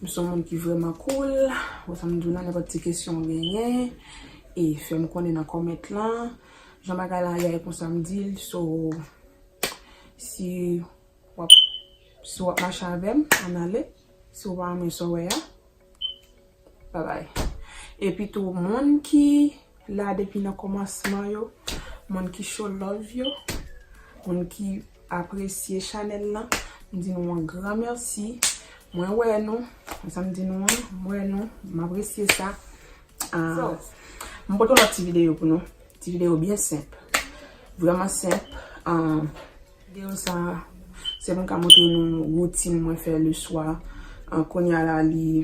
M son moun ki vrèman cool, wè sa m di w lan nenpòt ti kesyon w genyen e fè m konnen nan comment lan. Jan bagay la ye a e konsa m di l so si wap si wap mache avè m an ale si w pa renmen sa w wè a bye bye. Epi tou moun ki la depi nan komansman yo moun ki show love yo moun ki apresye chanèl lan m di nou yon gran mèsi mwen wè nou se sa m di nou an m wè nou m apresye sa m pote yon lòt ti videyo pou nou ti videyo byen senp vrèman senp videyo sa se pou m ka montre nou woutin mwen fè le swa kounya la li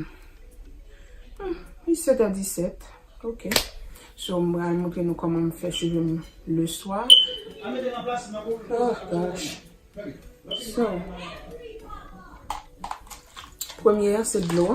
7 è 17 Ok so m pral montre nou koman m fè chevem le swa ohh gosh so premye an se dlo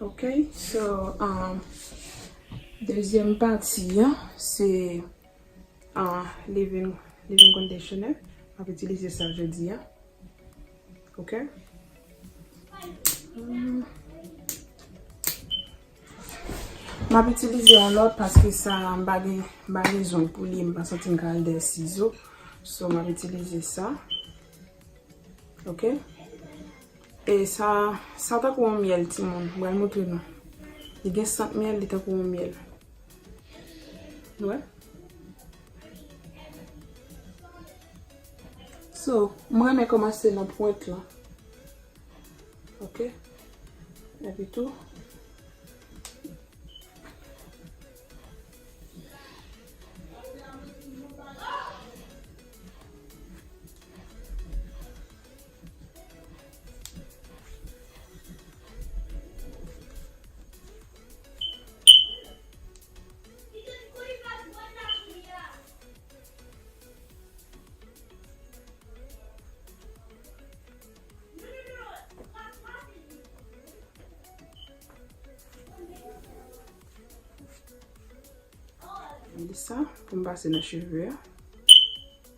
Ok so dezyèm pati an se leave-in conditioner map itilize sa jodi a ok map itilize yon lòt paske sa mpa gen mpa gen zong pou li mpa santim ka al dèyè sizo so map itilize sa. Ok e sa sa tankou yon myèl timoun m pral moutre nou li gen sant myèl li tankou yon myèl nou wè so m renmen kòmanse nan pwent lan ok epi tou Mwen li sa pou m pase nan cheve a.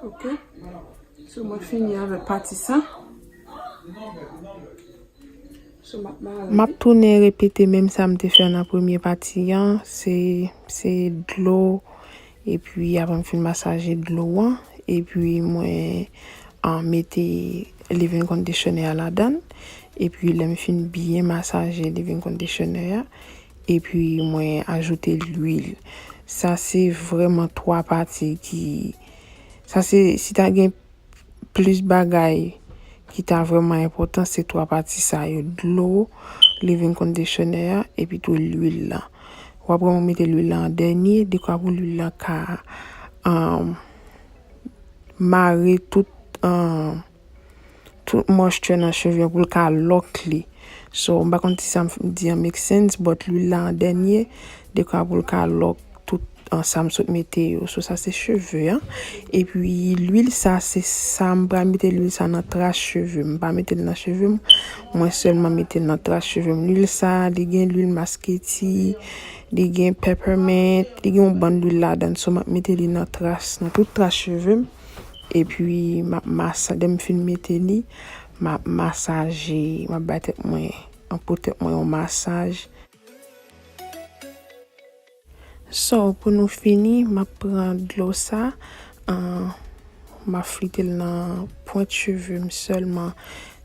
Ok, sou mwen fini avè pati sa. Map tounen repete menm sa m te fè nan premye pati an, se dlo, epi avan m fin masaje dlo an, epi mwen an mete leave-in conditioner a ladan, epi lè m fin byen masaje leave-in conditioner a. Epi mwen ajoute lwil. Sa se vreman 3 pati ki sa se si ta gen plis bagay ki ta vreman enpotan se 3 pati sa yo dlo living conditioner ya epi tou lwil la. Wap vreman mete lwil la an dènye dekwa pou lwil la ka mare tout an. Tout moisture nan cheve yo pou l ka lock li. So, m pa konn si sa m fin di an make sense, but lwil la an dènye, dekwa pou l ka lock tout an sa m sot mete yo. So, sa se cheve an. E pi lwil sa se sa m pral mete lwil sa nan tras cheve m. M pa mete l nan cheve m. Mwen sèlman mete l nan tras cheve m. Lwil sa, li gen lwil masketi, li gen peppermint, li gen yon bann lwil ladan l. So, m ap mete li nan tras, nan tout tras cheve m. Epi map masa dèm fin mete li, map masaje, map bay tèt mwen, map pou tèt mwen yon masaj. So pou nou fini, map pran dlo sa, map flite l nan pwent cheve m sèlman.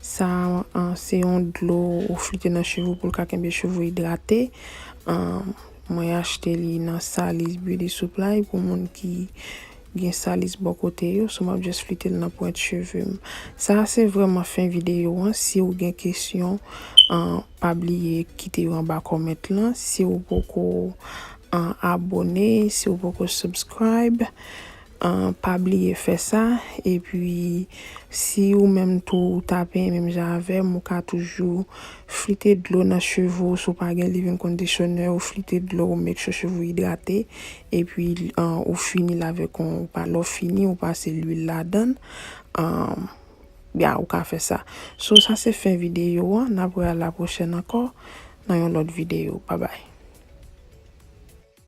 Sa a se yon dlo ou flite nan cheve w pou l ka kenbe cheve w idrate. Mwen achte li nan Salis Beauty Supply pou moun ki. Gen salis bò kote yo so map just flitel nan pwent chevem. Sa a se vrèman fen videyo an siw gen kesyon pa bliye kite yo anba comment lan siw poko abone siw poko subscribe pa bliye fè sa epi si ou menm tou ou ta penyen menm jan avèm ou ka toujou Flite dlo nan cheve w si w pa gen leave-in conditioner ou flite dlo ou make sure cheve ou idrate epi ou fini l avèk yon lè w fini ou pase lwil ladan ya ou ka fè sa so sa se fen videyo an n ap wè a la pwochèn ankò nan yon lòt videyo babay.